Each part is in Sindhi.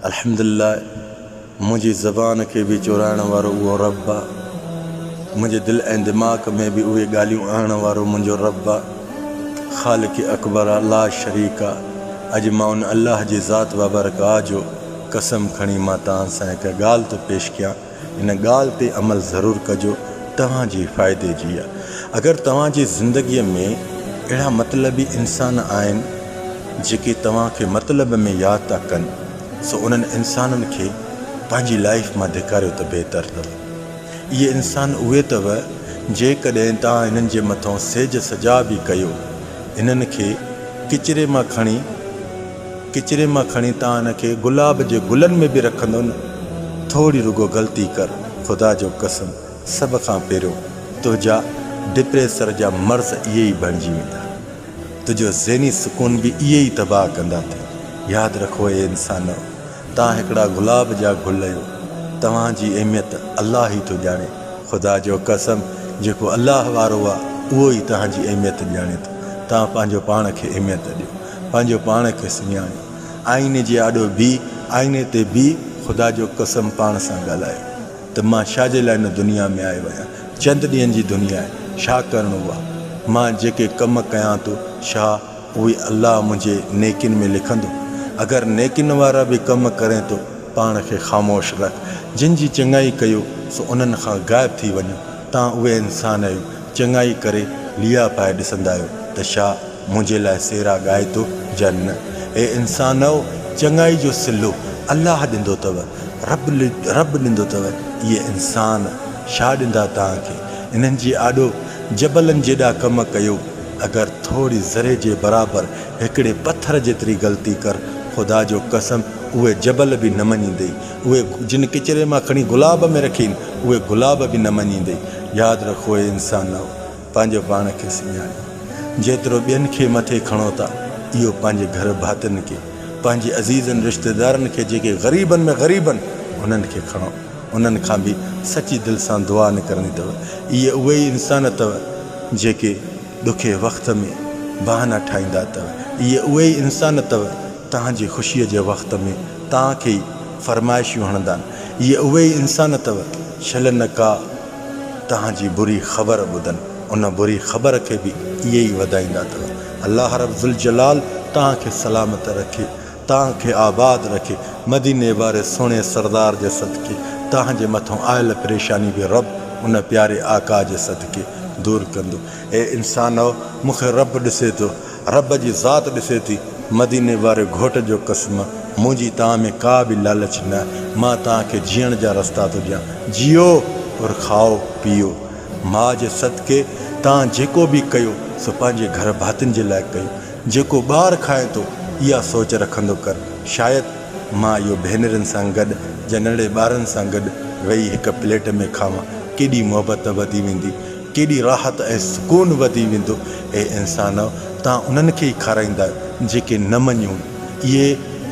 الحمدالله منهنجي زبان کي به چورائڻ وارو اهو رب آ منهنجي دل ۽ دماغ ۾ به اهي ڳالهيون آڻڻ وارو منهنجو رب آ خالق اڪبر آ لا شريڪ آ اڄ مان ان الله جي ذات بابرڪ آ جو قسم کڻي مان توهان سان هڪ ڳالهه ٿو پيش ڪيان ان ڳالهه تي عمل ضرور ڪجو توهان جي فائدي جي آهي اگر توهان جي زندگي ۾ اهڙا مطلبي انسان آهن جيڪي توهان کي مطلب ۾ ياد ٿا ڪن سو انهن انسانن کي پنهنجي لائيف مان ڌڪاريو ته بهتر اٿو اهي انسان اهي اٿو جيڪڏهن توهان هنن جي مٿو سيج سجا به ڪيو هنن کي ڪچري مان کڻي ڪچري مان کڻي تان ان کي گلاب جي گلن ۾ به رکندو نه ٿوڙي رڳو غلطي ڪر خدا جو قسم سڀ کان پهريون تنهنجا ڊپريسر جا مرض اهي ئي بڻجي ويندا تنهنجو ذهني سڪون به اهي ئي تباهه ڪندا ته ياد رکو اي انسانو تان هڪڙا گلاب جا گل اهيو توهان جي اهميت الله ئي ٿو ڄاڻي خدا جو قسم جيڪو الله وارو آ اهو ئي توهان جي اهميت ڄاڻي ٿو تان پنهنجو پاڻ کي اهميت ڏيو پنهنجو پاڻ کي سڃاڻي، آئيني جي آڏو بيهي، آئيني تي بيهي خدا جو قسم پاڻ سان ڳالهايو ته مان ڇا جي لاء هن دنيا ۾ آيو آهيان؟ چند ڏينهن جي دنيا آهي، ڇا ڪرڻو آهي؟ مان جيڪي ڪم ڪيان ٿو، ڇا اهي الله منهنجي نيڪين ۾ لکندو؟ اگر نيڪين وارا به ڪم ڪرين ته پاڻ کي خاموش رک، جن جي چڱائي ڪيو سو انهن کان غائب ٿي وڃو، تان اهي انسان آهيو چڱائي ڪري ليئا پائي ڏسندا آهيو ته ڇا؟ منهنجي لاء سيرا ڳائي تو جن. اي انسانؤ! چڱائي جو صلو الله ڏندو تؤ، رب رب ڏندو تؤ، اهي انسان ڇا ڏندا توهان کي؟ انهن جي آڏو جبلن جيڏا ڪم ڪيو، اگر ٿوري ذري جي برابر هڪڙي پٿر جيتري غلطي ڪر، خدا جو قسم اهي جبل به نه مڃيندئي، اهي جن ڪچري مان کڻي گلاب ۾ رکين، اهي گلاب به نه مڃيندئي، ياد رکو اي انسانؤ! پنهنجو پاڻ کي سڃاڻي جيترو ٻين کي مٿي کڻو ٿا اهو پنهنجي گهر ڀاتين کي پنهنجي عزيزن رشتيدارن کي جيڪي غريبن ۾ غريب آهن انهن کي کڻو انهن کان به سچي دل سان دعا نه ڪرڻي اٿو اهي اهي ئي انسان اٿو جيڪي ڏکي وقت ۾ بهانا ٺاهيندا اٿو اهي اهي ئي انسان اٿو تهانجي خوشي جي وقت ۾ تهانکي ئي فرمائشيون هڻندا اهي اهي ئي انسان اٿو شل نه ڪا توهان جي بري خبر ٻڌن ان بري خبر کي به اهي ئي وڌائيندا اٿو الله رب ذوالجلال توهان کي سلامت رکي توهان کي آباد رکي مديني واري سهڻي سردار جي صدقي توهان جي مٿان آيل پريشاني به رب ان پياري آقا جي صدقي دور ڪندو اي انسانؤ مون کي رب ڏسي ٿو رب جي ذات ڏسي ٿي مديني واري گهوٽ جو قسم منهنجي توهان ۾ ڪا به لالچ نه مان توهان کي جيئڻ جا رستا ٿو ڏيان جيئو اور کائو پيئو ماء جي صدقي توهان جيڪو به ڪيو سو پنهنجي گهر ڀاتين جي لاء ڪيو جيڪو ٻار کائين ٿو اها سوچ رکندو ڪر شايد مان اهو ڀينرين سان گڏ جا ننڙي ٻارن سان گڏ ويهي هڪ پليٽ ۾ کاوان ڪيڏي محبت وڌي ويندي ڪيڏي راحت ۽ سڪون وڌي ويندو. اي انسانؤ! توهان انهن کي ئي کارائيندا جيڪي نه مڃون. اهي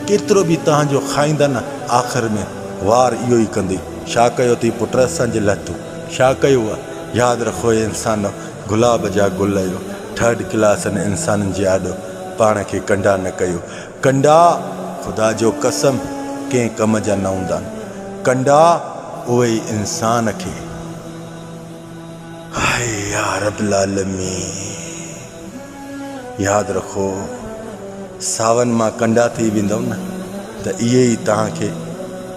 ڪيترو به توهان جو کائيندا نه آخر ۾ وار اهو ئي ڪندي. ڇا ڪيو اٿئي پٽ اسان جي لاء تون؟ ڇا ڪيو آهي؟ ياد رکو اي انسانؤ! گلاب جا گل اهو ٿرڊ ڪلاس هن انسانن جي آڏو پاڻ کي ڪنڊا نه ڪيو. ڪنڊا خدا جو قسم ڪنهن ڪم جا نه هوندا آهن. ڪنڊا اهي ئي انسان کي. هائي يا رب العالمين ياد رکو ساون مان ڪنڊا ٿي ويندؤ نه ته اهي ئي توهان کي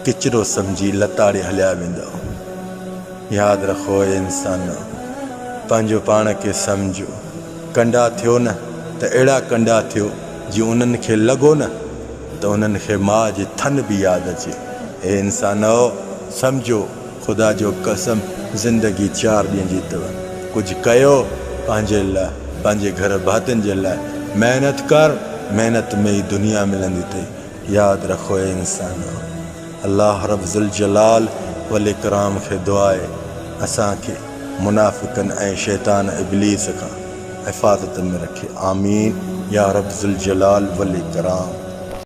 ڪچرو سمجهي لتاڙي هليا ويندؤ ياد رکو اي انسانو پنهنجو پاڻ کي سمجهو ڪنڊا ٿيو نه ته اهڙا ڪنڊا ٿيو جي انهن کي لڳو نه ته انهن کي ماء جي ٿن به ياد اچي اي انسانو سمجهو خدا جو قسم زندگي چار ڏينهن جي اٿئو ڪجهه ڪيو پنهنجي لاء پنهنجي گهر ڀاتين جي لاء محنت ڪر محنت ۾ ئي دنيا ملندي اٿئي ياد رک اي انسانو الله رب ذوالجلال والاڪرام کي دعا اهي اسان کي منافقن ۽ شيطان ابليس کان حفاظت ۾ رکي آمين يارب ذوالجلال والاڪرام.